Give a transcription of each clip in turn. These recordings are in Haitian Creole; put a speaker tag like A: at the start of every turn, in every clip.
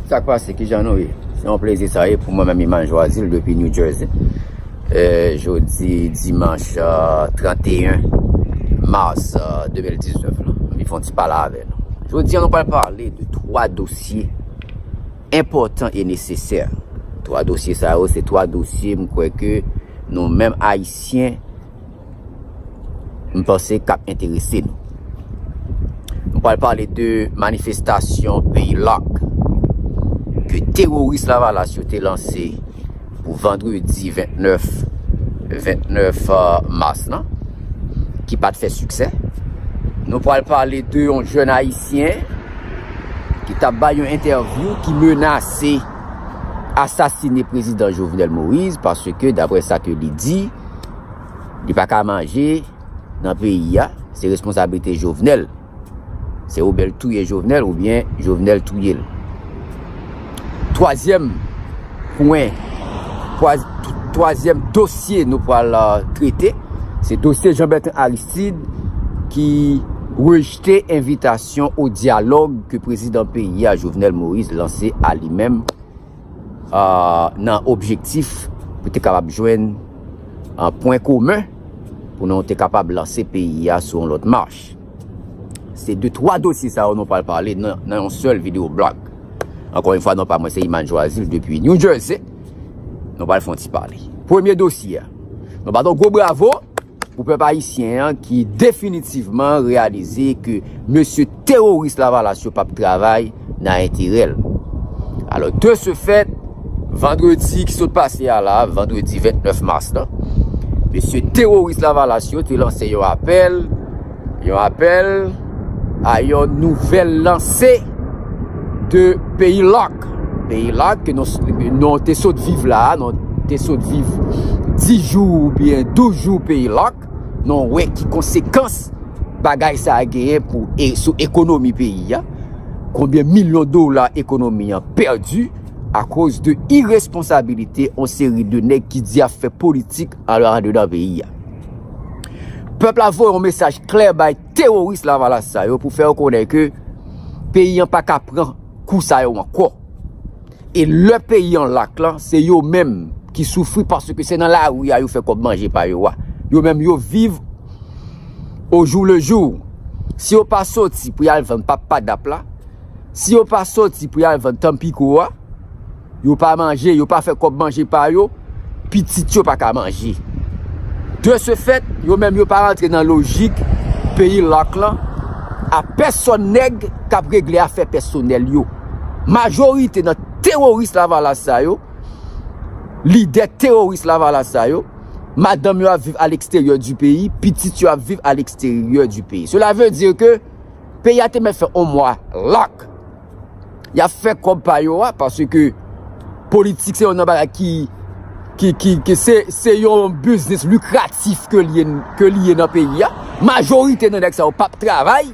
A: Sak pase kijan nou ye? Se yon plezi sa ye pou mwen menm Iman Joazil depi New Jersey. Jodi dimanch 31 mars 2019 la. Mwen fon ti pale avè nou. Jodi an nou pral pale de 3 dosye enpotan e nesesè. 3 dosye sa yo se 3 dosye mwen kwè ke nou menm ayisyen m panse k ap enterese nou. M pral pale de manifestasyon peyi Lark ke teworis Lavalas yo te lanse pou vandredi 29 29 mas lan ki pa t fè siksè. Nou pral pale de yon jèn ayisyen ki t ap bay yon entèvyou ki menase asasine prezidan Jovenel Moïse paske dapre sa ke li di. Li pa ka manje nan peyi a, se responsabilite Jovenel. Se ou bel touye Jovenel ou bien Jovenel touye l. Twazyèm pwen, twazyèm dosye nou pral trete, se dosye Jean Bertrand Aristide ki rejte envitasyon ou diyalog ke prezidan peyi a Jovenel Moïse lanse a li menm. nan objektif pou te kapab jwenn pwen komen pou nou te kapab lanse peyi a sou yon lòt mach. Se de 3 dosye sa yo nou pral pale nan yon sèl video blog. Ankon yon fwa nou pa mwen se Iman Joazil depi New Jersey. Nou pral fon ti pale. Premye dosye, nou baton gwo bravo. Pou pèp ayisyen an ki definitivman reyalize ke mesye teworis lavalas yo pap travay nan enterè l. Alò de se fèt, vandredi ki sot pase a la, vandredi 29 mas la, mesye teworis lavalas yo te lanse yon apèl, Yon apèl a yon nouvèl lanse de peyi lòk. Peyi lòk ke nou te sot viv la, nou te sot viv 10 jou ou byen 12 jou peyi lòk, nou wè ki konsekans bagay sa a genyen pou e sou ekonomi peyi a, konbyen milyon dola ekonomi an pèdi a koz de iresponsabilite yon seri de nèg ki di ap fè politik Alò andedan peyi a. Pèp la voye yon mesaj klè bay teworis lavalas sa yo pou fè yo konnen ke peyi an pa ka pran kou sa yo ankò. E lè peyi an lak lan, se yo menm ki soufri paske se nan lari a yo fè kòb manje pa yo a. Yo menm yo viv o jou le jou. Si yo pa soti pou y al vann pap padap la, si yo pa soti pou y al vann tanpiko a, Yo pa manje, yo pa fè kòb manje pa yo, pitit yo pa ka manje. De se fèt, yo menm yo pa rantre nan lojik peyi lock lan, a pèsòn nèg k ap regle afè pèsonèl yo. Majorite nan teworis lavalas sa yo, lidè teworis lavalas sa yo, madanm yo ap viv a leksteryè di peyi, pitit yo ap viv a leksteryè di peyi. Sela ve di ke peyi a te mèt fè on mwa lock. ya fè kòb pa yo a, paske ke politik se yon nan bagay ki, ki, ki, ki se, se yon biznis likratif ke li ye, ke li ye nan peyi a, majorite nan nèg sa yo pap travay,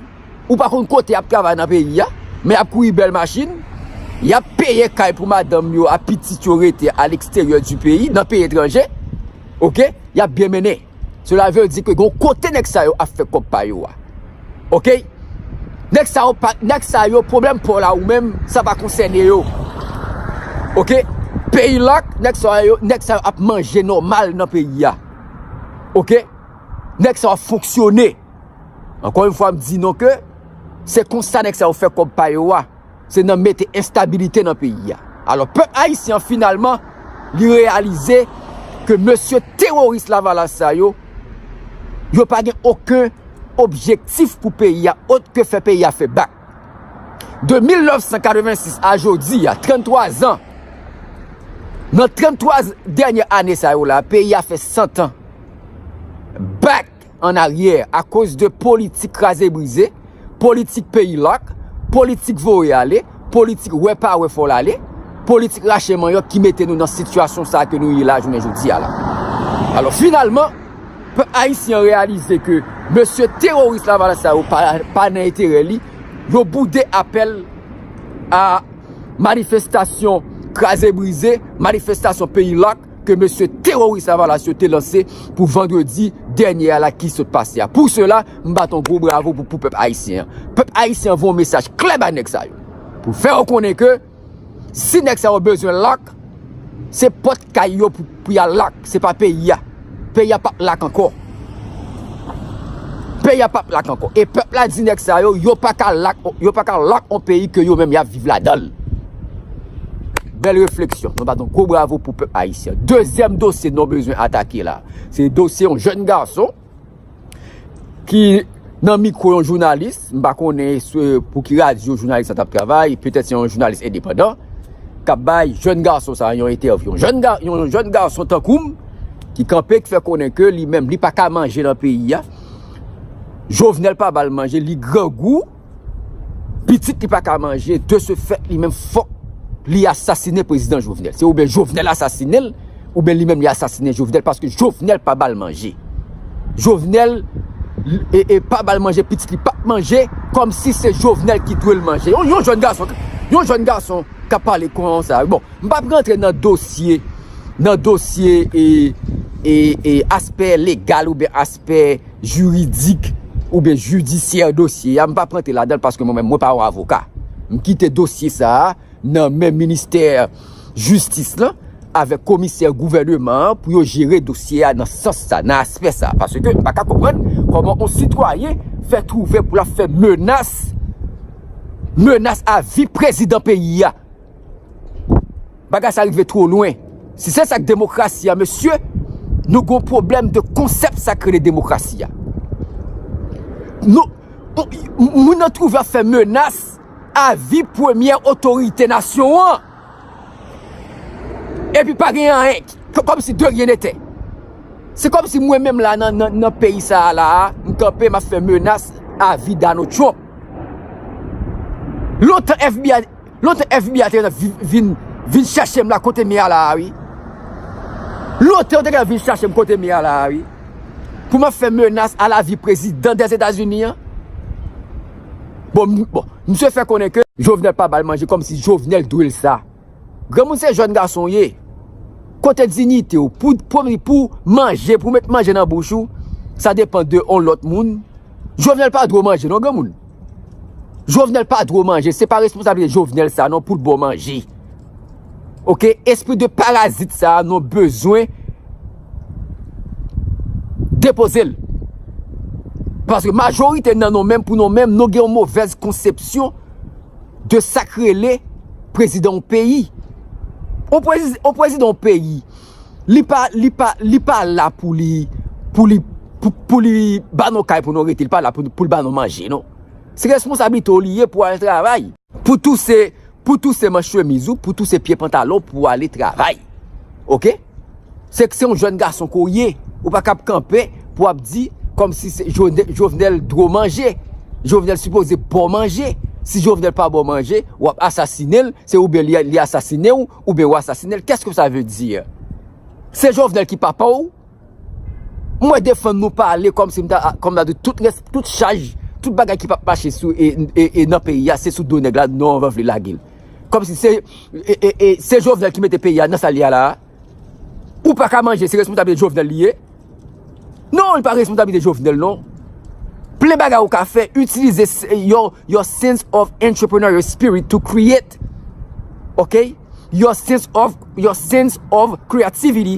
A: ou pa konn kote yap travay nan peyi a, men yap kouri bèl machin, yap peye kay pou madanm yo ak pitit yo rete a leksteryè di peyi, nan peyi etranje, ok, yap byen mennen. Cela veut dire que gon kote nèg sa yo ap fè kòb pa yo a. Ok? Nèg sa yo pa, nèg sa yo pwoblèm pa w la ou menm, sa pa konsène yo. Ok? Peyi lock, nèg sa yo, nèg sa yo ap manje nòmal nan peyi a. Ok? Nèg sa yo ap fonksyone. Ankò yon fwa m di nou ke, se konsa nèg sa yo fè kòb pa yo a. se nan mete enstabilite nan peyi a. Alò pèp ayisyen an finalman li reyalize ke mesye teworis lavalas sa yo, yo pa gen oken objektif pou peyi a ot ke fè peyi a fè bak. De 1986 a jodi a, 33 zan, nan 33 dènyè ane sa yo la, peyi a fè 100 an bak. an aryè akoz de politik kraze brize, politik peyi lak, politik voye ale, politik wè pa wè fò l ale, politik rache manyòk ki mete nou nan sitiyasyon sa ke nou ye la jounen jodi a la. Alò finalman, pèp ayisyen an reyalize ke mesye teworis lavalas sa yo pa nan enterè li, yo boude apèl a manifestasyon kraze brize, manifestasyon peyi lak, ke mesye teroris lavalas yo te lanse pou vandredi dènye a la ki sot pase a. Pou sela, m bat yon gwo bravo pou pou pèp ayisyen an. Pèp ayisyen an voye yon mesaj klè bay nèg sa yo. Pou fè yo konnen ke si nèg sa yo bezwen lak, se pòt kay yo pou ya lak, se pa peyi a. Peyi a pap lak ankò. Peyi a pap lak ankò. E pèp la di nèg sa yo, yo pa ka lak, yo pa ka lak on peyi ke yo menm yap viv la danl. Bèl refleksyon. Nou bat on gwo bravo pou pèp ayisyen. Dezyèm dosye nou bezwen atake la. Se dosye on jèn gason ki... nan mikwo yon jounalis, m pa konnen pou ki radyo jounalis sa t ap travay, petèt se yon jounalis endepandan, k ap bay jèn gason sa yon entèvyou. Yon jèn gason tankou m, ki kanpe, ki fè konnen ke li menm, li pa ka manje nan peyi a, Jovenel pa ba l manje, li grangou, pitit li pa ka manje, de se fèt li menm fòk li asasine prezidan Jovenel. Se ou byen Jovenel asasine l. Ou byen li menm li asasine jovenel paske jovenel pa bal manje jovenel e pa bal manje pitit li pap manje komsi se jovenel ki dwel manje yon jèn gason yon jèn gason kap pale konsa bon m pap rantre nan dosye nan dosye e e aspè legal ou byen aspè jiridik ou byen jidisyè dosye a m pap rantre ladanl paske mwen menm mwen pa yon avoka m kite dosye sa nan men ministè jistis lan avèk komisè gouvèneman an pou yo jere dosye a nan sans sa, nan aspè sa. Paske m pa ka konprann kòman yon sitwayen fè twouve pou l ap fè menas, menas a vi prezidan peyi a. Bagay sa rive two lwen. Si se sa k demokrasi a mesye, nou gen yon pwoblèm de konsèp sa k rele demokrasi a. Moun nan twouve ap fè menas. avi premyè otorite nasyon an, epi pa gen anyen, kòm si de ryen netè. Se kòm si mwen menm la nan peyi sa a la a, m kanpe m ap fè menas avi Donald Trump. Lontan FBI, lontan FBI te gentan vin, vin chèche m la kote m ye a la a wi. Lontan yo te gentan vin chèche m kote m ye a la a wi, pou m ap fè menas a lavi prezidan Dèzetazini an. Bon misye fè konnen ke Jovenel pa bal manje kòm si Jovenel dwe l sa. Granmoun se jèn gason w ye. Kote dignite w pou pou manje pou met manje nan bouch ou sa depan de on lòt moun. Jovenel pa dwe w manje non granmoun. Jovenel pa dwe w manje se pa responsabilite Jovenel sa non pou l ba w manje. Ok espri de parazit sa nou bezwen depoze l. Paske majorite nan nou menm pou nou menm nou gen yon movèz konsepsyon de sak rele prezidan yon peyi. Yon prezidan yon peyi li pa li pa li pa la pou li pou li pou li ba nou kay pou nou rete li pa la pou l ba nou manje non. Se responsabilite w li ye pou al travay. Pou touse, pou touse manch chemiz ou, pou touse pye pantalon w pou w ale travay. Ok? Se se yon jèn gason ke w ye, ou pa kab kanpe pou w ap di kòm si se Jovenel dwe w manje, Jovenel sipoze ba w manje. Si Jovenel pa ba w manje, w ap asasine l, se oubyen li asasine w, oubyen w asasine l. Kès ke sa ve di? Se Jovenel ki papa w? Mwen defann nou pale kòm si m ta kòm ta di tout rès tout chaj tout bagay ki pap mache sou e nan peyi a se sou do nèg la nou anvan vle lage l kòm si se e se Jovenel ki mete peyi a nan sa l ye a la a ou pa ka manje se responsablite Jovenel li ye non li pa responsablite Jovenel non plen bagay ou ka fè itilize yon yon sense of entrepreneurial spirit to create ok yon sense of yon sense of creativity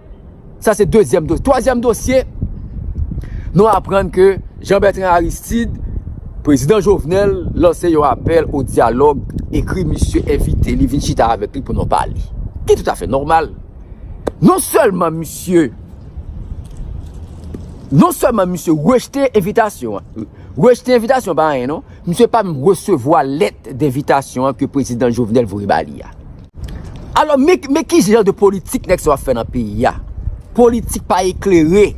A: Sa se dezyèm dosye. Twazyèm dosye, nou aprann ke Jean Bertrand Aristide, Prezidan Jovenel, lanse yon apèl ou diyalog, ekri misye evite li vin chita avèk li pou nou pale. Ki tout afè normal. Non sèlman misye, non sèlman misye rejte evitasyon an, rejte evitasyon pa anyen non, misye pa m resevwa lèt devitasyon an ke Prezidan Jovenel voye ba li a. Alò men ki jan de politik nèg sa yo ap fè nan peyi a. Politik pa eklere,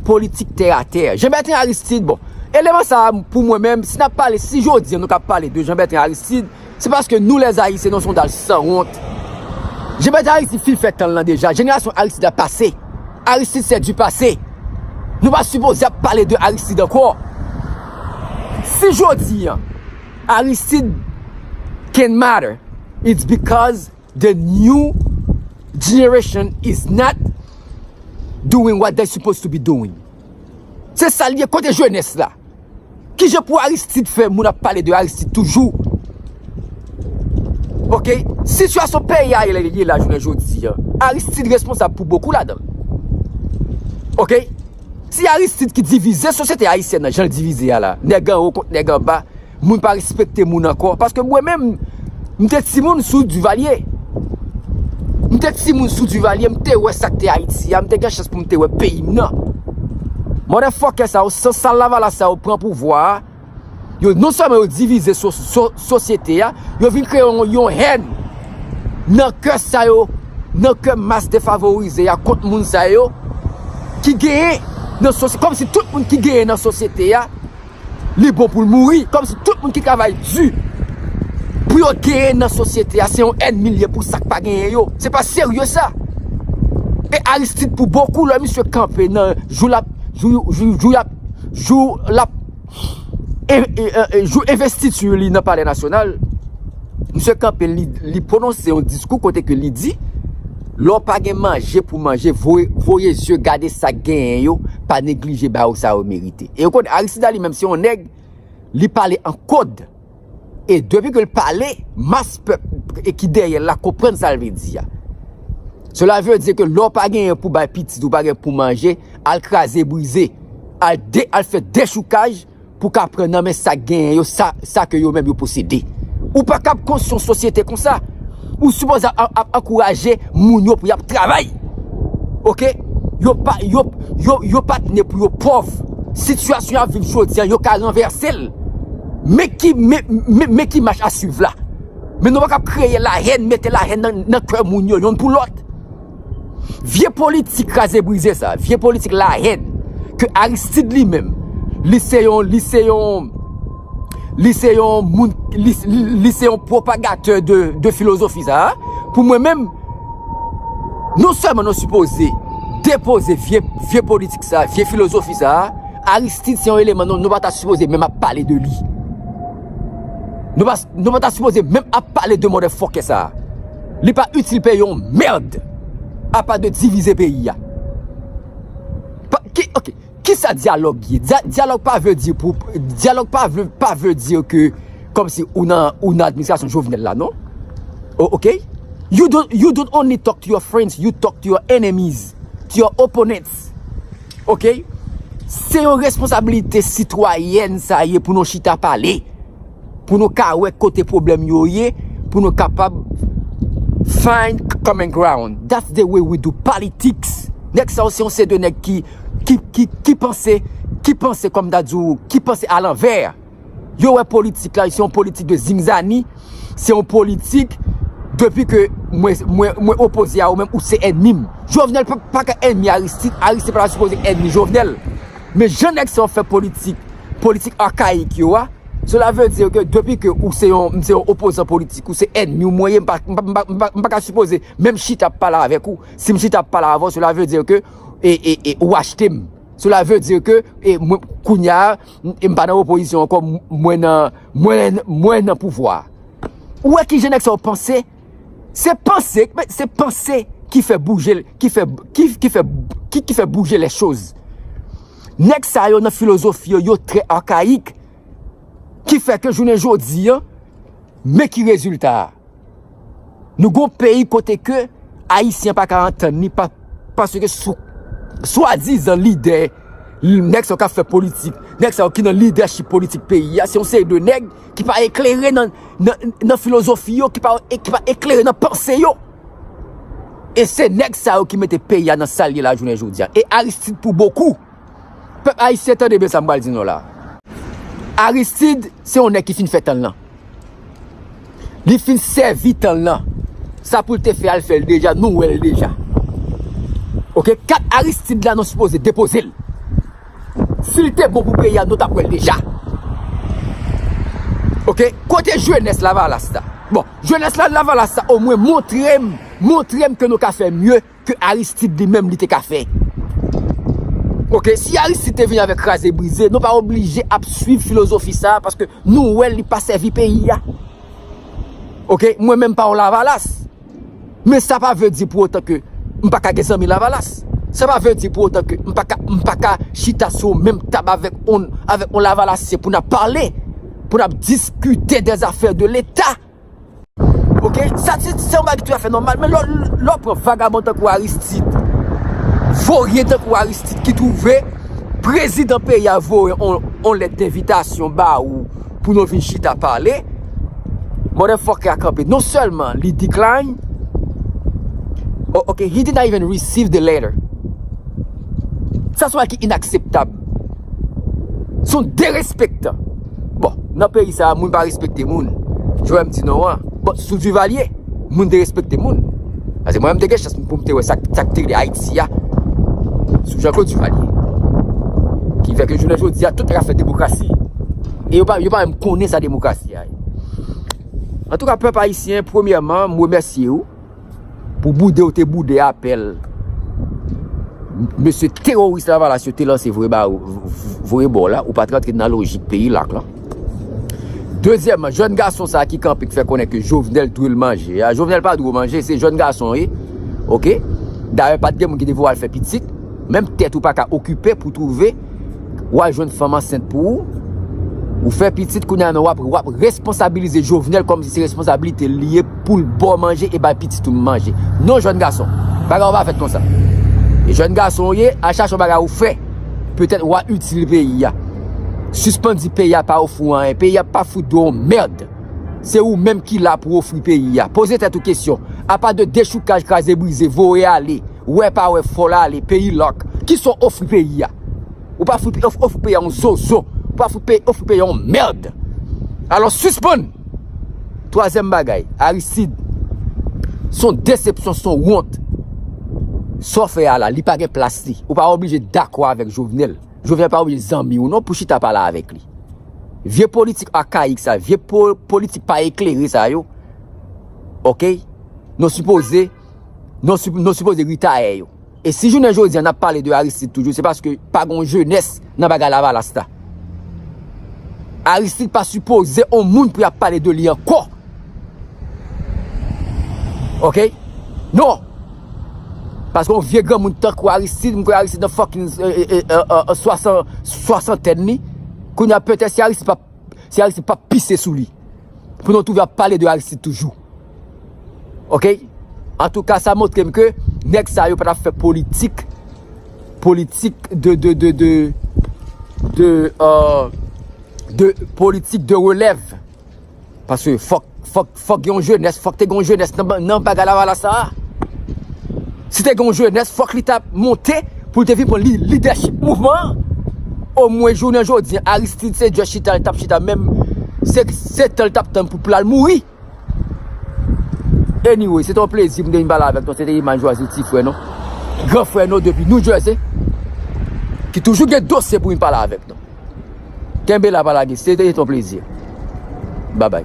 A: politik tè a tè. Jean Bertrand Aristide bon, eleman sa pou mwen menm si nap pale, si jodi an nou kap pale de Jean Bertrand Aristide, se paske nou lè zayisyen nou son dal san wont. Jean Bertrand Aristide fin fè tan l lan deja, jenerasyon Aristide la pase. Aristide se di pase. Nou pa sipoze ap pale de Aristide ankò. Si jodi an. Aristide can matter it's because the new generation is not doing what they supposed to be doing se sal ye kote jenès la kijan pou Aristide fè moun ap pale de Aristide toujou ok sitiyasyon peyi a ye la jounen jodi Aristide responsab pou bokou ladann ok. Se Aristide ki divize sosyete ayisyèn nan jan l divize a la, nèg anwo kont nèg anba, moun pa respekte moun ankò, paske mwen menm m te timoun sou Divalye, m te timoun sou Divalye, m te wè sa k te Ayiti a, m te gen chans pou m te wè peyi m nan. Mòdèfòkè sa yo, san sal lavalas sa yo pran pouvwa a. Yo non sèlman yo divize sosyete a, yo vin kreye yon hèn nan kè sa yo, nan kè mas defavorize a kont moun sa yo ki genyen nan sosyete. Kòm si tout moun ki genyen nan sosyete a, li bon pou l mouri. Kòm si tout moun ki travay di pou yo genyen nan sosyete a, se yon ènmi l ye pou sa k pa genyen yo. Se pa serye sa. E Aristide pou bokou lè misye kanpe nan jou l ap. jou lap jou investiti li nan palè nasyonal misye kanpe li pwononse yon diskou kote ke li di lè w pa gen manje pou manje voye zye gade sa genyen yo pa neglije ba yo sa yo merite e yon kote Aristide la li menm se yon nèg li pale an kòd E depi ke l pale, mas pèp ki dèyè l la konprann sa l vle di a. Sela vle di ke lè w pa genyen pou bay pitit ou, pa gen pou manje, al kraze brize, al fè dechoukaj pou ka pran nan men sa k genyen yo, sa ke yo menm yo posede. Ou pa kab konstwi yon sosyete konsa. ou sipoze ap ankouraje moun yo pou yap travay ok yo pa yo pat ne pou yo pòv sitiyasyon yap viv jodi an yo ka ranvèsel men ki men ki mach a swiv la men nou pa kap kreye la hèn mete la hèn nan kè moun yo yonn pou lòt. Vye politik kraze brize sa, vye politik la hèn, ke Aristide li menm, li se yon, li se yon, li se yon moun, li se yon propagateur de filosofi sa, pou mwen menm, non sèlman nou suppose depose vye politik sa, vye filosofi sa, Aristide se yon eleman nou pa ta suppose menm ap pale de li. Nou pata sipoze menm ap pale de mòdè fòkè sa. Li pa itil peyi yon merd. Apa de divize peyi a. Ok, kisa dyalòg ye? Dyalòg pa vle di pou, dyalòg pa vle, pa vle di ke kòm si ou nan, ou nan administrasyon Jovenel la non. Ok? You don't, you don't only talk to your friends, you talk to your enemies, to your opponents. Ok? Se yon responsabilite sitwayèn sa ye pou nou chita pale. Pou nou ka wè kote problem yo ye, pou nou kapab find common ground. That's the way we do politics. Nèg sa yo se yon seri de nèg ki, ki, ki, ki panse, ki panse kòm m ta di w, ki panse a lanvè. Yo wè politik la, se yon politik de zingzani, se yon politik depi ke mwen, mwen, mwen opoze a ou menm, ou se ènmi m. Jovenel pa ka ènmi Aristide, Aristide pa ta sipoze ènmi Jovenel. Men jan nèg sa yo fè politik, politik archaic yo a, cela veut dire que depi ke ou se yon, m se yon opozan politik, ou se ènmi w, mwen ye, m pa, m pa, m pa ka sipoze menm chita ap pale avèk ou, si m chita ap pale avè w, cela veut dire que e, e, e, ou achte m. Cela veut dire que e, mwen, kounya, m pa nan opozisyon ankò, mwen nan, mwen, mwen nan pouvwa a. Ou wè ki jan nèg sa yo panse? Se panse, se panse ki fè bouje, ki fè, ki fè, ki fè bouje lè choz. Nèg sa yo nan filozofi yo, yo trè arkaik, ki fè ke jounen jodi an, men ki rezilta a. Nou gon peyi kote ke, Ayisyen pa ka antann ni pa, paske sou, swa dizan lidè. Nèg sa yo kap fè politik, nèg sa yo ki nan lidèchip politik peyi a, se yon seri de nèg ki pa eklere nan filozofi yo, ki pa eklere nan panse yo. E se nèg sa yo ki mete peyi a nan sa l ye la jounen jodi a. E Aristide pou bokou, pèp ayisyen tande byen sa m pral di nou la. Aristide se yon nèg ki fin fè tan l lan. Li fin sèvi tan l nan. Sa pou l te fè a, l fè l deja, nou wè l deja. Ok, kat Aristide la nou sipoze depoze l. Si l te bon pou peyi a, nou tap wè l deja. Ok, kote jenès lavalas la? Bon, jenès lavalas la omwen montre m, montre m ke nou ka fè mye. ke Aristide li menm li te ka fè. Ok, si Aristide te vini avèk kraze brize, nou pa oblije ap swiv filozofi sa, paske nou wè li pa sèvi peyi a. Ok, mwen menm pa yon lavalas, men sa pa vle di pou otan ke m pa ka gen zanmi lavalas. Sa pa vle di pou otan ke m pa ka, m pa ka chita sou yon menm tab avèk yon, avèk yon lavalasyen pou n ap pale, pou n ap diskite de zafè de leta. Ok, sa se yon bagay ki tou a fè nòmal, men lò pran vagabon tankou Aristide, voryen tankou Aristide ki twouve prezidan peyi a voye yon lèt denvitasyon ba ou pou nou vin chita pale, mòdè fòkè a kanpe, non sèlman li decline, ok, he did not even receive the letter. Sa se yon bagay ki inakseptab. Se yon derespektan. Bon, nan peyi sa a, moun pa respekte moun. Jwè m di non an. Bon, sou Divalye, moun te respekte moun. Ase mwen m te gen chans pou m te wè sa k te rive Ayiti a. Sou Jean Claude Divalye. Ki fè ke jounen jodi a, tout rafè demokrasi. E yo pa menm konnen sa demokrasi a ye. An tou ka, pèp Ayisyen, premyèman, m remèsye ou. Pou boude ou te boude apèl mesye teworis lavalas yo te lanse voye ba ou, voye ba ou la, ou pa t rantre nan lojik peyi l ak lan. Dezyèman, jèn gason sa ki kanpe k fè konnen ke Jovenel dwe l manje a, Jovenel pa dwe w manje, se jèn gason w ye, ok, dayè pa t gen moun ki te vle w al fè pitit, menm tèt ou pa ka okipe pou twouve. ou al jwenn fanm ansent pou ou, ou fè pitit kounye a men wap responsabilize Jovenel kòm si se responsabilite li ye pou l ba w manje e bay pitit ou manje. Non jèn gason, bagay yo pa fèt konsa. E jèn gason ou ye, al chache yon bagay ou fè, petèt wa itil peyi a. Sispann di peyi a pa ofri w anyen, peyi a pa fout dwe yon mèrd. Se ou menm ki la pou ofri peyi a. Poze tèt ou kesyon, apa de dechoukaj, kraze brize, voye ale. Wè pa wè fòl ale peyi lock kisa w ofri peyi a ou pa fout ofri peyi a yon zozo ou pa fout ofri peyi a yon merd alò sispann twazyèm bagay Aristide son desepsyon son wont sa w fè a la li pa gen plas li ou pa oblije dakò avèk Jovenel Jovenel pa oblije zanmi w non pou chita pale avèk li vye politik akayik sa vye politik pa eklere sa yo ok nou sipoze. nou sipoze ritaye yo. E si jounen jodi an ap pale de Aristide toujou, se paske pa gon jenès nan bagay lavalas la. Aristide pa sipoze on moun pou ap pale de li an kò. Ok? Non! Paske on vye granmoun tan kou Aristide, mwen kwe Aristide nan fòk yon soasantèn ni, kou nyan petè si Aristide pa pise sou li. Pou nou touve ap pale de Aristide toujou. Ok antouka sa moutrem ke nèg sa yo pa tap fè politik politik de de de de de de politik de relèv paske fòk fòk fòk gen yon jenès fòk te gen yon jenès nan bagay lavalas sa a si te gen yon jenès fòk li tap monte pou te vin pran lidèchip mouvman an o mwen jounen jodi Aristide se djòs chita li tap chita menm se se tan li tap tann pou pou lal mouri. Anyway, se te yon plezi pou m te vin pale avèk nou. Se te Iman Jwaze, ti frè nou, gran frè nou depi New Jersey, ki toujou gen dosye pou vin pale avèk nou. Kenbe la pa lage, se te yon plezi. Babay.